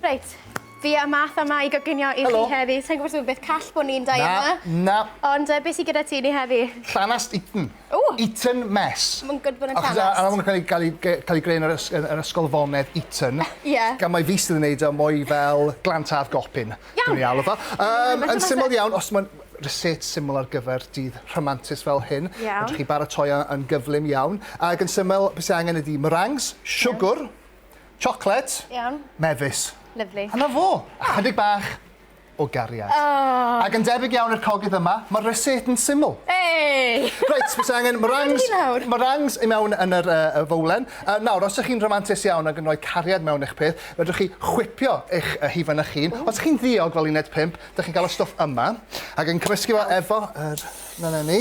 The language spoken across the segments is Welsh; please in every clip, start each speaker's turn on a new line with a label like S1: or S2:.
S1: Reit, fi a Math yma i goginio i chi heddi. Sai'n gwybod os yw beth call bod ni'n dau yma. Na, na. Ond uh, beth sy'n gyda ti ni heddi? Llanast Eton. O! Eton Mess. Mae'n gwybod bod yn llanast. Achos anam yn cael ei greu yn yr, ys, yr ysgol fonedd Eton. Ie. Yeah. Gan mae fi sydd yn neud o mwy fel glan taf gopin. Iawn. Dwi'n ei alw fo. Um, yn syml iawn, os mae'n reset syml ar gyfer dydd rhamantus fel hyn. Iawn. Fedrwch chi baratoi yn gyflym iawn. Ac yn syml, beth sy'n angen ydy meringues, siwgr, yeah Chocolate. Iawn. Mefus. Lyfli. A 'na fo. Ychydig bach o gariad. Oh! Ac yn debyg iawn i'r cogydd yma, mae'r recet yn syml. Hey! Reit, fes angen meringues, meringues i mewn yn yr uh, fowlen. Uh, nawr, os ydych chi'n romantus iawn ac yn rhoi cariad mewn eich peth, fedrwch chi chwipio eich uh, hufen eich hun. Os ydych chi'n ddiog fel uned 5, ydych chi'n cael y stwff yma, ac yn cymysgu fo efo... Er, na, na ni.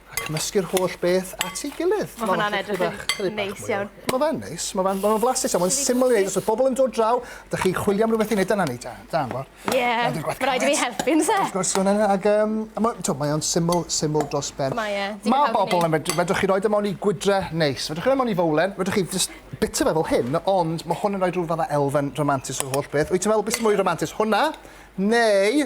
S1: A cymysgu'r holl beth at ei gilydd. Ma' hwnna'n edrych yn neis iawn. Ma' fe'n neis, ma' fe'n ma' fe'n flasus iawn, ma'n syml i neud os odd pobol yn dod draw, dych chi chwilio am rwbeth i neud dyna ni da da am bo. Ie. Ma'n dod gwaith grêt. Ma' raid i fi helpu on'd o's e? Wrth gwrs ma' wnna ag yym a ma' t'o' mae o'n syml syml dros ben. Mae e. Digon hawdd i neud. Ma' bobol yn medru fedrwch chi roid e mewn i gwydre neis, fedrwch chi roi mewn i fowlen, fedrwch chi jyst bita fe fel hyn, ond ma' hwn yn roi rhyw fath o elfen ramantus o'r holl beth. Wyt ti'n meddwl be' sy mwy ramantus, hwnna neu